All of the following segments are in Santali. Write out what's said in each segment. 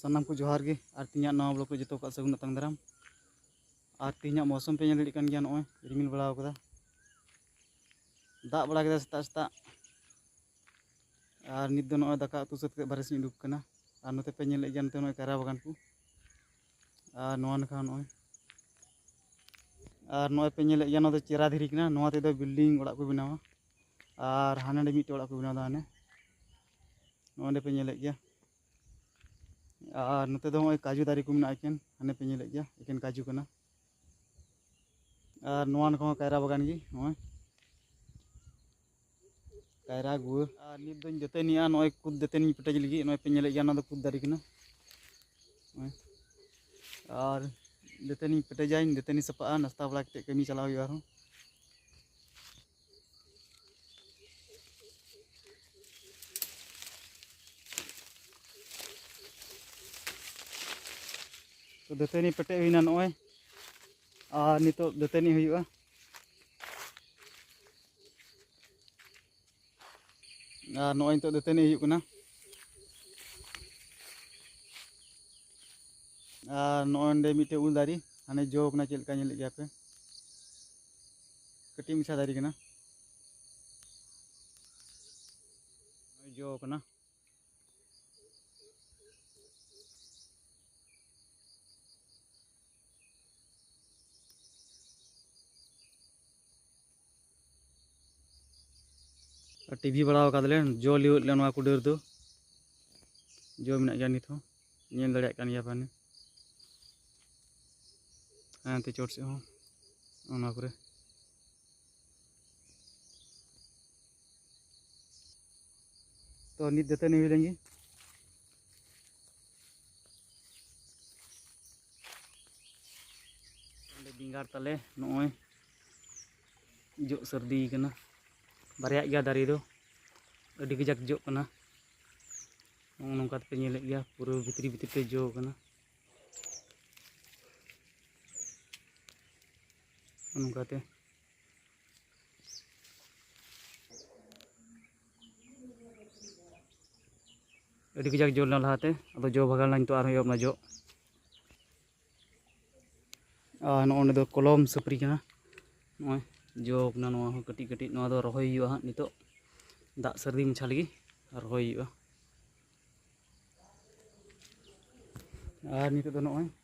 ᱥᱟᱱᱟᱢ ᱠᱚ ᱡᱚᱦᱟᱨ ᱜᱮ ᱟᱨ ᱛᱤᱧᱟᱹᱜ ᱱᱟᱣᱟ ᱵᱞᱚᱜ ᱨᱮ ᱡᱚᱛᱚ ᱠᱚᱣᱟᱜ ᱥᱟᱹᱜᱩᱱ ᱟᱛᱟᱝ ᱫᱟᱨᱟᱢ ᱟᱨ ᱛᱤᱧᱟᱹᱜ ᱢᱚᱥᱚᱢ ᱯᱮ ᱧᱮᱞ ᱫᱟᱲᱮᱭᱟᱜ ᱠᱟᱱ ᱜᱮᱭᱟ ᱱᱚᱜᱼᱚᱭ ᱨᱤᱢᱤᱞ ᱵᱟᱲᱟᱣ ᱠᱟᱫᱟ ᱫᱟᱜ ᱵᱟᱲᱟ ᱠᱮᱫᱟ ᱥᱮᱛᱟᱜ ᱥᱮᱛᱟᱜ ᱟᱨ ᱱᱤᱛ ᱫᱚ ᱱᱚᱜᱼᱚᱭ ᱫᱟᱠᱟ ᱩᱛᱩ ᱥᱟᱹᱛ ᱠᱟᱛᱮ ᱵᱟᱨᱦᱮ ᱥᱮᱫ ᱤᱧ ᱩᱰᱩᱠ ᱠᱟᱱᱟ ᱟᱨ ᱱᱚᱛᱮ ᱯᱮ ᱧᱮᱞᱮᱫ ᱜᱮᱭᱟ ᱱᱚᱛᱮ ᱱᱚᱜᱼᱚᱭ ᱠᱟᱭᱨᱟ ᱵᱟᱜᱟᱱ ᱠᱚ ᱟᱨ ᱱᱚᱣᱟ ᱱᱟᱠᱷᱟ ᱱᱚᱜᱼᱚᱭ ᱟᱨ ᱱᱚᱜᱼᱚᱭ ᱯᱮ ᱧᱮᱞᱮᱫ ᱜᱮᱭᱟ ᱱᱚᱣᱟ ᱫᱚ ᱪᱮᱨᱟ ᱫᱷᱤᱨᱤ ᱠᱟᱱᱟ ᱱᱚᱣᱟ ᱛᱮᱫᱚ ᱵᱤᱞᱰᱤᱝ ᱚᱲᱟᱜ ᱠᱚ ᱵᱮᱱᱟᱣᱟ ᱟᱨ ᱦᱟᱸᱰᱮ ᱱᱟᱰᱮ ᱢᱤᱫᱴᱮᱡ ᱚᱲᱟᱜ ᱠᱚ ᱵᱮᱱᱟᱣᱫᱟ ᱦᱟᱱᱮ ᱱᱚᱸᱰᱮ ᱯᱮ ᱧᱮᱞᱮᱫ ᱜᱮᱭᱟ ᱟᱨ ᱱᱚᱛᱮ ᱫᱚ ᱱᱚᱜᱼᱚᱭ ᱠᱟᱡᱩ ᱫᱟᱨᱮ ᱠᱚ ᱢᱮᱱᱟᱜᱼᱟ ᱮᱠᱮᱱ ᱦᱟᱱᱮ ᱯᱮ ᱧᱮᱞᱮᱫ ᱜᱮᱭᱟ ᱮᱠᱮᱱ ᱠᱟᱡᱩ ᱠᱟᱱᱟ ᱟᱨ ᱱᱚᱣᱟ ᱱᱟᱠᱷᱟ ᱦᱚᱸ ᱠᱟᱭᱨᱟ ᱵᱟᱜᱟᱱ ᱜᱮ ᱱᱚᱜᱼᱚᱭ ᱠᱟᱭᱨᱟ ᱜᱩᱣᱟᱹ ᱟᱨ ᱱᱤᱛ ᱫᱚᱧ ᱫᱟᱹᱛᱟᱹᱱᱤᱜᱼᱟ ᱱᱚᱜᱼᱚᱭ ᱠᱩᱫ ᱫᱟᱹᱛᱟᱹᱱᱤᱧ ᱯᱮᱴᱮᱡ ᱞᱟᱹᱜᱤᱫ ᱱᱚᱜᱼᱚᱭ ᱯᱮ ᱧᱮᱞᱮᱫ ᱜᱮᱭᱟ ᱱᱚᱣᱟ ᱫᱚ ᱠᱩᱫ ᱫᱟᱨᱮ ᱠᱟᱱᱟ ᱟᱨ ᱫᱟᱹᱛᱟᱹᱱᱤᱧ ᱯᱮᱴᱮᱡᱟᱧ ᱫᱟᱹᱛᱟᱹᱱᱤ ᱥᱟᱯᱟᱜᱼᱟ ᱱᱟᱥᱛᱟ ᱵᱟᱲᱟ ᱠᱟᱛᱮᱫ ᱠᱟᱹᱢᱤ ᱪᱟᱞᱟᱣ ᱦᱩᱭᱩᱜᱼᱟ ᱟᱨᱦᱚᱸ ᱫᱟᱹᱛᱟᱹᱱᱤ ᱯᱮᱴᱮᱡ ᱦᱩᱭᱱᱟ ᱱᱚᱜᱼᱚᱭ ᱟᱨ ᱱᱤᱛᱚᱜ ᱫᱟᱹᱛᱟᱹᱱᱤ ᱦᱩᱭᱩᱜᱼᱟ ᱟᱨ ᱱᱚᱜᱼᱚᱭ ᱱᱤᱛᱚᱜ ᱫᱟᱹᱛᱟᱹᱱᱤ ᱦᱩᱭᱩᱜ ᱠᱟᱱᱟ ᱟᱨ ᱱᱚᱜᱼᱚᱭ ᱱᱚᱸᱰᱮ ᱢᱤᱫᱴᱮᱡ ᱩᱞ ᱫᱟᱨᱮ ᱦᱟᱱᱮ ᱡᱚ ᱠᱟᱱᱟ ᱪᱮᱫ ᱞᱮᱠᱟ ᱧᱮᱞᱮᱫ ᱜᱮᱭᱟ ᱯᱮ ᱠᱟᱹᱴᱤᱡ ᱢᱟᱪᱷᱟ ᱫᱟᱨᱮ ᱠᱟᱱᱟ ᱡᱚ ᱠᱟᱱᱟ ᱴᱤᱵᱷᱤ ᱵᱟᱲᱟ ᱟᱠᱟᱫᱟᱞᱮ ᱡᱚ ᱞᱤᱣᱮᱫ ᱞᱮ ᱱᱚᱣᱟ ᱠᱚ ᱰᱟᱹᱨ ᱫᱚ ᱡᱚ ᱢᱮᱱᱟᱜ ᱜᱮᱭᱟ ᱱᱤᱛ ᱦᱚᱸ ᱧᱮᱞ ᱫᱟᱲᱮᱭᱟᱜ ᱠᱟᱱ ᱜᱮᱭᱟ ᱯᱟᱱᱮ ᱦᱟᱱᱛᱮ ᱪᱚᱴ ᱥᱮᱫ ᱦᱚᱸ ᱚᱱᱟ ᱠᱚᱨᱮ ᱛᱚ ᱱᱤᱛ ᱫᱟᱹᱛᱟᱹᱱᱤ ᱦᱩᱭ ᱞᱮᱱ ᱜᱮ ᱚᱸᱰᱮ ᱵᱮᱸᱜᱟᱲ ᱛᱟᱞᱮ ᱱᱚᱜᱼᱚᱭ ᱡᱚᱜ ᱥᱟᱹᱨᱫᱤ ᱠᱟᱱᱟ ᱵᱟᱨᱭᱟᱜ ᱜᱮᱭᱟ ᱫᱟᱨᱮ ᱫᱚ ᱟᱹᱰᱤ ᱠᱟᱡᱟᱠ ᱡᱚᱜ ᱠᱟᱱᱟ ᱱᱚᱜᱼᱚ ᱱᱚᱝᱠᱟ ᱛᱮᱯᱮ ᱧᱮᱞᱮᱫ ᱜᱮᱭᱟ ᱯᱩᱨᱟᱹ ᱵᱷᱤᱛᱨᱤ ᱵᱷᱤᱛᱨᱤ ᱛᱮ ᱡᱚ ᱠᱟᱱᱟ ᱚᱱᱠᱟᱛᱮ ᱟᱹᱰᱤ ᱠᱟᱡᱟᱠ ᱡᱚ ᱞᱮᱱᱟ ᱞᱟᱦᱟᱛᱮ ᱟᱫᱚ ᱡᱚ ᱵᱷᱟᱜᱟᱣ ᱞᱮᱱᱟ ᱱᱤᱛᱚᱜ ᱟᱨᱦᱚᱸ ᱮᱦᱚᱵ ᱮᱱᱟ ᱡᱚ ᱟᱨ ᱱᱚᱜᱼᱚ ᱱᱚᱸᱰᱮ ᱫᱚ ᱠᱚᱞᱚᱢ ᱥᱟᱹᱯᱨᱤ ᱠᱟᱱᱟ ᱱᱚᱜᱼᱚᱭ ᱡᱚ ᱠᱟᱱᱟ ᱱᱚᱣᱟ ᱦᱚᱸ ᱠᱟᱹᱴᱤᱡ ᱠᱟᱹᱴᱤᱡ ᱱᱚᱣᱟ ᱫᱚ ᱨᱚᱦᱚᱭ ᱦᱩᱭᱩᱜᱼᱟ ᱦᱟᱸᱜ ᱱᱤᱛᱚᱜ ᱫᱟᱜ ᱥᱟᱹᱨᱫᱤ ᱢᱟᱪᱷᱟ ᱞᱟᱹᱜᱤᱫ ᱨᱚᱦᱚᱭ ᱦᱩᱭᱩᱜᱼᱟ ᱟᱨ ᱱᱤᱛᱚᱜ ᱫᱚ ᱱᱚᱜᱼᱚᱭ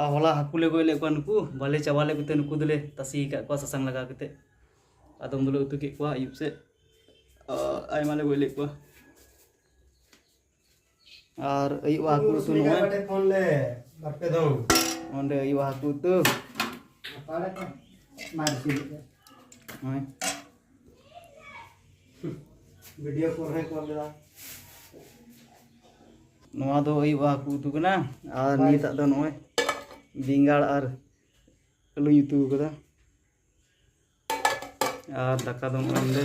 ᱟᱨ ᱦᱚᱞᱟ ᱦᱟᱹᱠᱩ ᱞᱮ ᱜᱚᱡ ᱞᱮᱫ ᱠᱚᱣᱟ ᱱᱩᱠᱩ ᱵᱟᱞᱮ ᱪᱟᱵᱟ ᱞᱮᱫ ᱠᱚᱛᱮ ᱱᱩᱠᱩ ᱫᱚᱞᱮ ᱛᱟᱥᱮ ᱟᱠᱟᱫ ᱠᱚᱣᱟ ᱥᱟᱥᱟᱝ ᱞᱟᱜᱟᱣ ᱠᱟᱛᱮ ᱟᱫᱚᱢ ᱫᱚᱞᱮ ᱩᱛᱩ ᱠᱮᱫ ᱠᱚᱣᱟ ᱟᱹᱭᱩᱵ ᱥᱮᱫ ᱟᱭᱢᱟ ᱞᱮ ᱜᱚᱡ ᱞᱮᱫ ᱠᱚᱣᱟ ᱟᱨ ᱟᱹᱭᱩᱵ ᱦᱟᱹᱠᱩ ᱩᱛᱩ ᱱᱚᱜᱼᱚᱭ ᱚᱸᱰᱮ ᱟᱹᱭᱩᱵ ᱦᱟᱹᱠᱩ ᱩᱛᱩ ᱱᱚᱜᱼᱚᱭ ᱵᱷᱤᱰᱤᱭᱳ ᱠᱚᱞ ᱦᱚᱸᱭ ᱠᱚᱞ ᱞᱮᱫᱟ ᱱᱚᱣᱟ ᱫᱚ ᱦᱩᱭᱩᱜᱼᱟ ᱦᱟᱹᱠᱩ ᱩᱛᱩ ᱠᱟᱱᱟ ᱟᱨ ᱱᱤᱛᱟᱜ ᱫᱚ ᱱᱚᱜᱼᱚᱭ ᱵᱮᱸᱜᱟᱲ ᱟᱨ ᱟᱹᱞᱩᱧ ᱩᱛᱩ ᱠᱟᱫᱟ ᱟᱨ ᱫᱟᱠᱟ ᱫᱚ ᱱᱚᱜᱼᱚᱭ ᱱᱚᱰᱮ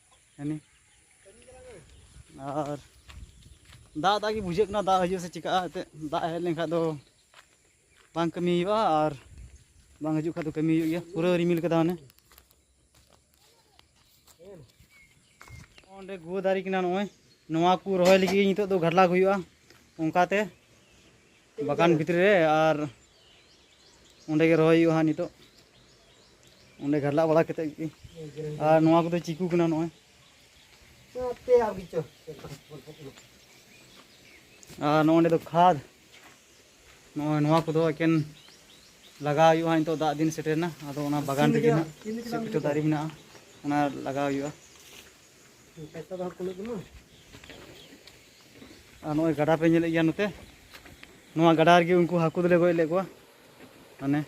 ᱦᱟᱹᱱᱤ ᱟᱨ ᱫᱟᱜ ᱫᱟᱜ ᱜᱮ ᱵᱩᱡᱷᱟᱹᱜ ᱠᱟᱱᱟ ᱫᱟᱜ ᱦᱤᱡᱩᱜ ᱥᱮ ᱪᱤᱠᱟᱹᱜᱼᱟ ᱮᱱᱛᱮᱫ ᱫᱟᱜ ᱦᱮᱡ ᱞᱮᱱᱠᱷᱟᱱ ᱫᱚ ᱵᱟᱝ ᱠᱟᱹᱢᱤ ᱦᱩᱭᱩᱜᱼᱟ ᱟᱨ ᱵᱟᱝ ᱦᱤᱡᱩᱜ ᱠᱷᱟᱱ ᱫᱚ ᱠᱟᱹᱢᱤ ᱦᱩᱭᱩᱜ ᱜᱮᱭᱟ ᱯᱩᱨᱟᱹ ᱨᱤᱢᱤᱞ ᱠᱟᱫᱟ ᱢᱟᱱᱮ ᱚᱸᱰᱮ ᱜᱩᱣᱟᱹ ᱫᱟᱨᱮ ᱠᱟᱱᱟ ᱱᱚᱜᱼᱚᱭ ᱱᱚᱣᱟ ᱠᱚ ᱨᱚᱦᱚᱭ ᱞᱟᱹᱜᱤᱫ ᱱᱤᱛᱚᱜ ᱫᱚ ᱜᱷᱟᱰᱞᱟᱜᱽ ᱦᱩᱭᱩᱜᱼᱟ ᱚᱱᱠᱟᱛᱮ ᱵᱟᱜᱟᱱ ᱵᱷᱤᱛᱨᱤ ᱨᱮ ᱟᱨ ᱚᱸᱰᱮ ᱜᱮ ᱨᱚᱦᱚᱭ ᱦᱩᱭᱩᱜᱼᱟ ᱦᱟᱸᱜ ᱱᱤᱛᱚᱜ ᱚᱸᱰᱮ ᱜᱷᱟᱰᱞᱟᱜ ᱵᱟᱲᱟ ᱠᱟᱛᱮ ᱜᱮ ᱟᱨ ᱱᱚᱣᱟ ᱠᱚᱫᱚ ᱪᱤᱠᱩ ᱠᱟᱱᱟ ᱱᱚᱜᱼᱚᱭ ᱟᱨ ᱱᱚᱸᱰᱮ ᱫᱚ ᱠᱷᱟᱫᱽ ᱱᱚᱜᱼᱚᱭ ᱱᱚᱣᱟ ᱠᱚᱫᱚ ᱮᱠᱮᱱ ᱞᱟᱜᱟᱣ ᱦᱩᱭᱩᱜᱼᱟ ᱱᱤᱛᱚᱜ ᱫᱟᱜ ᱫᱤᱱ ᱥᱮᱴᱮᱨᱮᱱᱟ ᱟᱫᱚ ᱚᱱᱟ ᱵᱟᱜᱟᱱ ᱨᱮᱜᱮ ᱱᱟᱜ ᱪᱮᱫ ᱠᱚᱪᱚ ᱫᱟᱨᱮ ᱢᱮᱱᱟᱜᱼᱟ ᱚᱱᱟ ᱞᱟᱜᱟᱣ ᱦᱩᱭᱩᱜᱼᱟ ᱟᱨ ᱱᱚᱜᱼᱚᱭ ᱜᱟᱰᱟ ᱯᱮ ᱧᱮᱞᱮᱫ ᱜᱮᱭᱟ ᱱᱚᱛᱮ ᱱᱚᱣᱟ ᱜᱟᱰᱟ ᱨᱮᱜᱮ ᱩᱱᱠᱩ ᱦᱟᱹᱠᱩ ᱫᱚᱞᱮ ᱜᱚᱡ ᱞᱮᱫ ᱠᱚᱣᱟ ᱢᱟᱱᱮ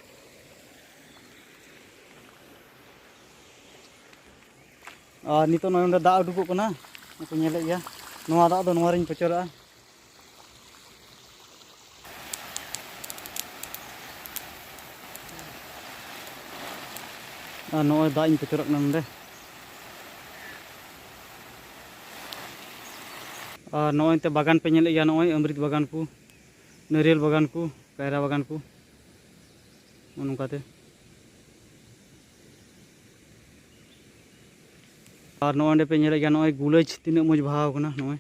ᱟᱨ ᱱᱤᱛᱚᱜ ᱱᱚᱜᱼᱚᱭ ᱱᱚᱰᱮ ᱫᱟᱜ ᱩᱰᱩᱠᱚᱜ ᱠᱟᱱᱟ ᱱᱚᱛᱮ ᱧᱮᱞᱮᱫ ᱜᱮᱭᱟ ᱱᱚᱣᱟ ᱫᱟᱜ ᱫᱚ ᱱᱚᱣᱟ ᱨᱤᱧ ᱯᱚᱪᱚᱨᱟᱜᱼᱟ ᱟᱨ ᱱᱚᱜᱼᱚᱭ ᱫᱟᱜ ᱤᱧ ᱯᱮᱪᱚᱨᱟᱜ ᱠᱟᱱᱟ ᱱᱚᱸᱰᱮ ᱟᱨ ᱱᱚᱜᱼᱚᱭ ᱛᱮ ᱵᱟᱜᱟᱱ ᱯᱮ ᱧᱮᱞᱮᱫ ᱜᱮᱭᱟ ᱱᱚᱜᱼᱚᱭ ᱟᱢᱨᱤᱛ ᱵᱟᱜᱟᱱ ᱠᱚ ᱱᱟᱹᱨᱤᱭᱟᱞ ᱵᱟᱜᱟᱱ ᱠᱚ ᱠᱟᱭᱨᱟ ᱵᱟᱜᱟᱱ ᱠᱚ ᱱᱚᱜᱼᱚ ᱱᱚᱝᱠᱟᱛᱮ ᱟᱨ ᱱᱚᱜᱼᱚᱭ ᱯᱮ ᱧᱮᱞᱮᱫ ᱜᱮᱭᱟ ᱱᱚᱜᱼᱚᱭ ᱜᱩᱞᱟᱹᱡ ᱛᱤᱱᱟᱹᱜ ᱢᱚᱡᱽ ᱵᱟᱦᱟᱣ ᱠᱟᱱᱟ ᱱᱚᱜᱼᱚᱭ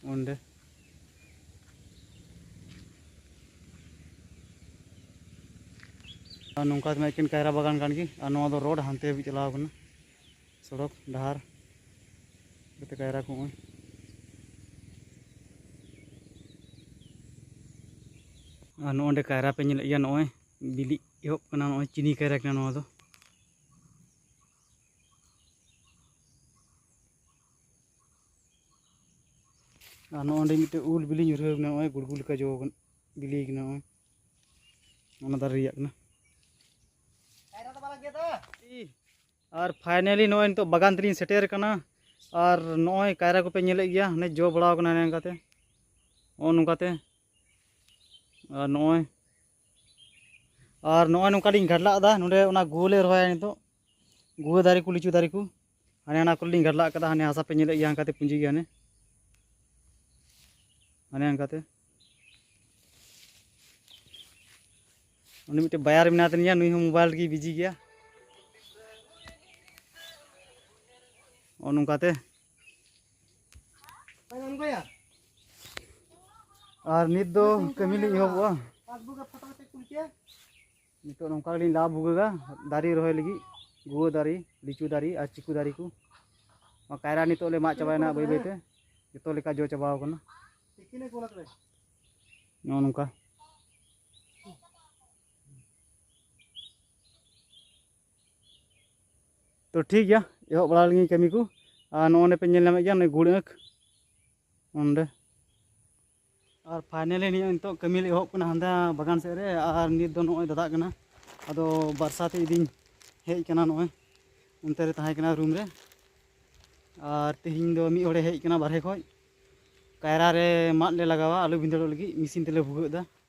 ᱚᱸᱰᱮ ᱟᱨ ᱱᱚᱝᱠᱟ ᱛᱮᱢᱟ ᱮᱠᱮᱱ ᱠᱟᱭᱨᱟ ᱵᱟᱜᱟᱱ ᱠᱟᱱ ᱜᱮ ᱟᱨ ᱱᱚᱣᱟ ᱫᱚ ᱨᱳᱰ ᱦᱟᱱᱛᱮ ᱦᱟᱹᱵᱤᱡ ᱪᱟᱞᱟᱣ ᱠᱟᱱᱟ ᱥᱚᱲᱚᱠ ᱰᱟᱦᱟᱨ ᱡᱟᱛᱮ ᱠᱟᱭᱨᱟ ᱠᱚ ᱱᱚᱜᱼᱚᱭ ᱟᱨ ᱱᱚᱜᱼᱚᱸᱰᱮ ᱠᱟᱭᱨᱟ ᱯᱮ ᱧᱮᱞᱮᱫ ᱜᱮᱭᱟ ᱱᱚᱜᱼᱚᱭ ᱵᱤᱞᱤᱜ ᱮᱦᱚᱵ ᱠᱟᱱᱟ ᱱᱚᱜᱼᱚᱭ ᱪᱤᱱᱤ ᱠᱟᱭᱨᱟ ᱠᱟᱱᱟ ᱱᱚᱣᱟ ᱫᱚ ᱟᱨ ᱱᱚᱜᱼᱚᱭ ᱚᱸᱰᱮ ᱢᱤᱫᱴᱮᱡ ᱩᱞ ᱵᱤᱞᱤ ᱧᱩᱨᱦᱟᱹᱣ ᱠᱟᱱᱟ ᱱᱚᱜᱼᱚᱭ ᱜᱩᱲᱜᱩ ᱞᱮᱠᱟ ᱡᱚ ᱠᱟᱱᱟ ᱵᱤᱞᱤ ᱠᱟᱱᱟ ᱱᱚᱜᱼᱚᱭ ᱚᱱᱟ ᱫᱟᱨᱮ ᱨᱮᱭᱟᱜ ᱠᱟᱱᱟ ᱟᱨ ᱯᱷᱟᱭᱱᱟᱞᱤ ᱱᱚᱜᱼᱚᱭ ᱱᱤᱛᱚᱜ ᱵᱟᱜᱟᱱ ᱛᱮᱞᱤᱧ ᱥᱮᱴᱮᱨ ᱠᱟᱱᱟ ᱟᱨ ᱱᱚᱜᱼᱚᱭ ᱠᱟᱭᱨᱟ ᱠᱚᱯᱮ ᱧᱮᱞᱮᱫ ᱜᱮᱭᱟ ᱦᱟᱱᱮ ᱡᱚ ᱵᱟᱲᱟᱣ ᱠᱟᱱᱟ ᱱᱚᱝᱠᱟᱛᱮ ᱱᱚᱜᱼᱚ ᱱᱚᱝᱠᱟᱛᱮ ᱟᱨ ᱱᱚᱜᱼᱚᱭ ᱟᱨ ᱱᱚᱜᱼᱚᱭ ᱱᱚᱝᱠᱟ ᱞᱤᱧ ᱜᱟᱰᱞᱟᱜ ᱟᱠᱟᱫᱟ ᱱᱚᱰᱮ ᱚᱱᱟ ᱜᱩᱣᱟᱹ ᱞᱮ ᱨᱚᱦᱚᱭᱟ ᱱᱤᱛᱚᱜ ᱜᱩᱣᱟᱹ ᱫᱟᱨᱮ ᱠᱚ ᱞᱤᱪᱩ ᱫᱟᱨᱮ ᱠᱚ ᱦᱟᱱᱮ ᱚᱱᱟ ᱠᱚᱨᱮ ᱞᱤᱧ ᱜᱟᱰᱞᱟᱜ ᱟᱠᱟᱫᱟ ᱦᱟᱱᱮ ᱦᱟᱥᱟ ᱯᱮ ᱧᱮᱞᱮᱫ ᱜᱮᱭᱟ ᱦᱟᱱᱠᱟᱛᱮ ᱯᱩᱸᱡᱤ ᱜᱮᱭᱟ ᱦᱟᱱᱮ ᱦᱟᱱᱮ ᱦᱟᱱᱠᱟᱛᱮ ᱩᱱᱤ ᱢᱤᱫᱴᱮᱱ ᱵᱟᱭᱟᱨ ᱢᱮᱱᱟᱭ ᱛᱟᱹᱞᱤᱧᱟ ᱱᱩᱭ ᱦᱚᱸ ᱢᱳᱵᱟᱭᱤᱞ ᱨᱮᱜᱮ ᱵᱤᱡᱤ ᱜᱮᱭᱟ ᱱᱚᱜᱼᱚ ᱱᱚᱝᱠᱟᱛᱮ ᱟᱨ ᱱᱤᱛ ᱫᱚ ᱠᱟᱹᱢᱤ ᱞᱤᱧ ᱮᱦᱚᱵᱚᱜᱼᱟ ᱱᱤᱛᱚᱜ ᱱᱚᱝᱠᱟ ᱜᱮᱞᱤᱧ ᱞᱟ ᱵᱷᱩᱜᱟᱹᱜᱟ ᱫᱟᱨᱮ ᱨᱚᱦᱚᱭ ᱞᱟᱹᱜᱤᱫ ᱜᱩᱣᱟᱹ ᱫᱟᱨᱮ ᱞᱤᱪᱩ ᱫᱟᱨᱮ ᱟᱨ ᱪᱤᱠᱩ ᱫᱟᱨᱮ ᱠᱚ ᱠᱟᱭᱨᱟ ᱱᱤᱛᱚᱜ ᱞᱮ ᱢᱟᱜ ᱪᱟᱵᱟᱭᱮᱱᱟ ᱵᱟᱹᱭ ᱵᱟᱹᱭᱛᱮ ᱡᱚᱛᱚ ᱞᱮᱠᱟ ᱡᱚ ᱪᱟᱵᱟᱣ ᱟᱠᱟᱱᱟ ᱱᱚᱜᱼᱚ ᱱᱚᱝᱠᱟ ᱛᱚ ᱴᱷᱤᱠ ᱜᱮᱭᱟ ᱮᱦᱚᱵ ᱵᱟᱲᱟ ᱞᱮᱱᱜᱮ ᱠᱟᱹᱢᱤ ᱠᱚ ᱟᱨ ᱱᱚᱜᱼᱚᱸᱰᱮ ᱯᱮ ᱧᱮᱞ ᱧᱟᱢᱮᱫ ᱜᱮᱭᱟ ᱱᱚᱜᱼᱚᱭ ᱜᱩᱲ ᱟᱹᱸᱠ ᱚᱸᱰᱮ ᱟᱨ ᱯᱷᱟᱭᱱᱟᱞᱤ ᱱᱤᱭᱟᱹ ᱱᱤᱛᱚᱜ ᱠᱟᱹᱢᱤ ᱞᱮ ᱮᱦᱚᱵ ᱠᱟᱱᱟ ᱦᱟᱸᱰᱮ ᱵᱟᱜᱟᱱ ᱥᱮᱫ ᱨᱮ ᱟᱨ ᱱᱤᱛ ᱫᱚ ᱱᱚᱜᱼᱚᱭ ᱫᱟᱫᱟᱜ ᱠᱟᱱᱟ ᱟᱫᱚ ᱵᱟᱨᱥᱟ ᱛᱮ ᱤᱫᱤᱧ ᱦᱮᱡ ᱠᱟᱱᱟ ᱱᱚᱜᱼᱚᱭ ᱚᱱᱛᱮ ᱨᱮ ᱛᱟᱦᱮᱸ ᱠᱟᱱᱟ ᱨᱩᱢ ᱨᱮ ᱟᱨ ᱛᱮᱦᱮᱧ ᱫᱚ ᱢᱤᱫ ᱦᱚᱲᱮ ᱦᱮᱡ ᱠᱟᱱᱟ ᱵᱟᱨᱦᱮ ᱠᱷᱚᱡ ᱠᱟᱭᱨᱟ ᱨᱮ ᱢᱟᱫ ᱞᱮ ᱞᱟᱜᱟᱣᱟ ᱟᱞᱩ ᱵᱷᱤᱸᱫᱟᱹᱲᱚᱜ ᱞᱟᱹᱜᱤᱫ ᱢᱮᱥᱤᱱ ᱛᱮᱞᱮ ᱵᱷᱩᱜᱟᱹᱜ ᱮᱫᱟ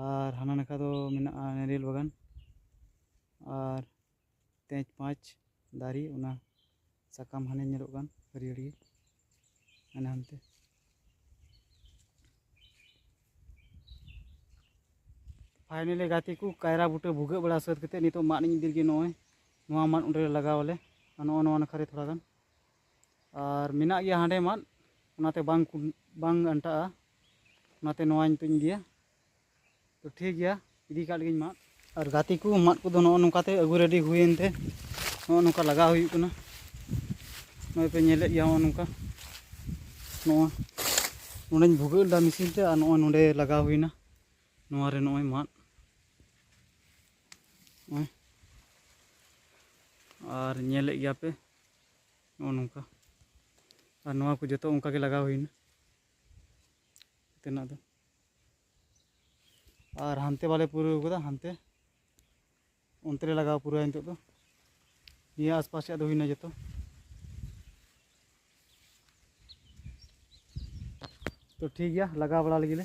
ᱟᱨ ᱦᱟᱱᱟ ᱱᱟᱠᱷᱟ ᱫᱚ ᱢᱮᱱᱟᱜᱼᱟ ᱱᱟᱨᱤᱭᱮᱞ ᱵᱟᱜᱟᱱ ᱟᱨ ᱛᱮᱡᱽ ᱯᱟᱸᱪ ᱫᱟᱨᱮ ᱚᱱᱟ ᱥᱟᱠᱟᱢ ᱦᱟᱱᱮ ᱧᱮᱞᱚᱜ ᱠᱟᱱ ᱦᱟᱹᱨᱭᱟᱹᱲ ᱜᱮ ᱦᱟᱱᱮ ᱦᱟᱱᱛᱮ ᱯᱷᱟᱭᱱᱮᱞᱤ ᱜᱟᱛᱮ ᱠᱚ ᱠᱟᱭᱨᱟ ᱵᱩᱴᱟᱹ ᱵᱷᱩᱜᱟᱹᱜ ᱵᱟᱲᱟ ᱥᱟᱹᱛ ᱠᱟᱛᱮᱫ ᱱᱤᱛᱚᱜ ᱢᱟᱫ ᱤᱧ ᱤᱫᱤ ᱜᱮ ᱱᱚᱜᱼᱚᱭ ᱱᱚᱣᱟ ᱢᱟᱫ ᱚᱸᱰᱮ ᱞᱟᱜᱟᱣ ᱟᱞᱮ ᱟᱨ ᱱᱚᱜᱼᱚ ᱱᱚᱣᱟ ᱱᱟᱠᱷᱟ ᱨᱮ ᱛᱷᱚᱲᱟ ᱜᱟᱱ ᱟᱨ ᱢᱮᱱᱟᱜ ᱜᱮᱭᱟ ᱦᱟᱸᱰᱮ ᱢᱟᱫ ᱚᱱᱟᱛᱮ ᱵᱟᱝ ᱵᱟᱝ ᱟᱱᱴᱟᱜᱼᱟ ᱚᱱᱟᱛᱮ ᱱᱚᱣᱟ ᱱᱤᱛᱚᱜ ᱤᱫᱤᱭᱟ ᱛᱚ ᱴᱷᱤᱠ ᱜᱮᱭᱟ ᱤᱫᱤ ᱠᱟᱜ ᱞᱟᱹᱜᱤᱫ ᱢᱟᱫ ᱟᱨ ᱜᱟᱛᱮ ᱠᱚ ᱢᱟᱫ ᱠᱚᱫᱚ ᱱᱚᱜᱼᱚ ᱱᱚᱝᱠᱟᱛᱮ ᱟᱹᱜᱩ ᱨᱮᱰᱤ ᱦᱩᱭᱮᱱ ᱛᱮ ᱱᱚᱜᱼᱚ ᱱᱚᱝᱠᱟ ᱞᱟᱜᱟᱣ ᱦᱩᱭᱩᱜ ᱠᱟᱱᱟ ᱱᱚᱜᱼᱚᱭ ᱯᱮ ᱧᱮᱞᱮᱫ ᱜᱮᱭᱟ ᱱᱚᱜᱼᱚ ᱱᱚᱝᱠᱟ ᱱᱚᱜᱼᱚᱭ ᱱᱚᱰᱮᱧ ᱵᱷᱩᱜᱟᱹᱜ ᱞᱮᱫᱟ ᱢᱮᱥᱤᱱ ᱛᱮ ᱟᱨ ᱱᱚᱜᱼᱚᱭ ᱱᱚᱰᱮ ᱞᱟᱜᱟᱣ ᱦᱩᱭᱱᱟ ᱱᱚᱣᱟ ᱨᱮ ᱱᱚᱜᱼᱚᱭ ᱢᱟᱫ ᱱᱚᱜᱼᱚᱭ ᱟᱨ ᱧᱮᱞᱮᱫ ᱜᱮᱭᱟ ᱯᱮ ᱱᱚᱜᱼᱚ ᱱᱚᱝᱠᱟ ᱟᱨ ᱱᱚᱣᱟ ᱠᱚ ᱡᱚᱛᱚ ᱚᱱᱠᱟ ᱜᱮ ᱞᱟᱜᱟᱣ ᱦᱩᱭᱱᱟ ᱛᱮᱱᱟᱜ ᱫᱚ ᱟᱨ ᱦᱟᱱᱛᱮ ᱵᱟᱞᱮ ᱯᱩᱨᱟᱹᱣ ᱠᱟᱫᱟ ᱦᱟᱱᱛᱮ ᱚᱱᱛᱮ ᱨᱮ ᱞᱟᱜᱟᱣ ᱯᱩᱨᱟᱹᱣᱟ ᱱᱤᱛᱚᱜ ᱫᱚ ᱱᱤᱭᱟᱹ ᱟᱥᱯᱟᱥ ᱨᱮᱭᱟᱜ ᱫᱚ ᱦᱩᱭᱱᱟ ᱡᱚᱛᱚ ᱛᱚ ᱴᱷᱤᱠ ᱜᱮᱭᱟ ᱞᱟᱜᱟᱣ ᱵᱟᱲᱟ ᱞᱮᱜᱮ ᱞᱮ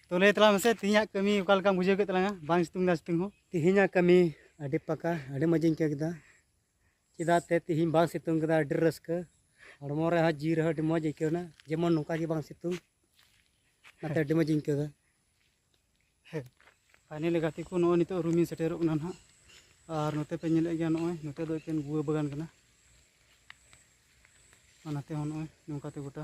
ᱛᱚ ᱞᱟᱹᱭ ᱛᱟᱞᱟᱝ ᱢᱮᱥᱮ ᱛᱮᱦᱮᱧᱟᱜ ᱠᱟᱹᱢᱤ ᱚᱠᱟ ᱞᱮᱠᱟᱢ ᱵᱩᱡᱷᱟᱹᱣ ᱠᱮᱫ ᱛᱟᱞᱟᱝᱟ ᱵᱟᱝ ᱥᱤᱛᱩᱝ ᱫᱟ ᱥᱤᱛᱩᱝ ᱦᱚᱸ ᱛᱮᱦᱮᱧᱟᱜ ᱠᱟᱹᱢᱤ ᱟᱹᱰᱤ ᱯᱟᱠᱟ ᱟᱹᱰᱤ ᱢᱚᱡᱽ ᱤᱧ ᱟᱹᱭᱠᱟᱹᱣ ᱠᱮᱫᱟ ᱪᱮᱫᱟᱜ ᱛᱮ ᱛᱮᱦᱮᱧ ᱵᱟᱝ ᱥᱤᱛᱩᱝ ᱠᱮᱫᱟ ᱟᱹᱰᱤ ᱨᱟᱹᱥᱠᱟᱹ ᱦᱚᱲᱢᱚ ᱨᱮᱦᱚᱸ ᱡᱤᱣᱤ ᱨᱮᱦᱚᱸ ᱟᱹᱰᱤ ᱢᱚᱡᱽ ᱟᱹᱭᱠᱟᱹᱣ ᱮᱱᱟ ᱡᱮᱢᱚᱱ ᱱᱚᱝᱠᱟ ᱜᱮ ᱵᱟᱝ ᱥᱤᱛᱩᱝ ᱚᱱᱟᱛᱮ ᱟᱹᱰᱤ ᱢᱚᱡᱽ ᱤᱧ ᱟᱹᱭᱠᱟᱹᱣ ᱮᱫᱟ ᱯᱷᱟᱭᱱᱮᱞ ᱜᱟᱛᱮ ᱠᱚ ᱱᱚᱜᱼᱚᱭ ᱱᱤᱛᱚᱜ ᱨᱩᱢᱤᱧ ᱥᱮᱴᱮᱨᱚᱜ ᱠᱟᱱᱟ ᱱᱟᱦᱟᱜ ᱟᱨ ᱱᱚᱛᱮ ᱯᱮ ᱧᱮᱞᱮᱫ ᱜᱮᱭᱟ ᱱᱚᱜᱼᱚᱭ ᱱᱚᱛᱮ ᱫᱚ ᱮᱠᱮᱱ ᱜᱩᱣᱟᱹ ᱵᱟᱜᱟᱱ ᱠᱟᱱᱟ ᱚᱱᱟᱛᱮ ᱦᱚᱸ ᱱᱚᱜᱼᱚᱭ ᱱᱚᱝᱠᱟᱛᱮ ᱜᱚᱴᱟ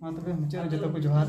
ᱢᱟ ᱛᱚᱵᱮ ᱢᱩᱪᱟᱹᱫ ᱨᱮ ᱡᱚᱛᱚ ᱠᱚ ᱡᱚᱦᱟᱨ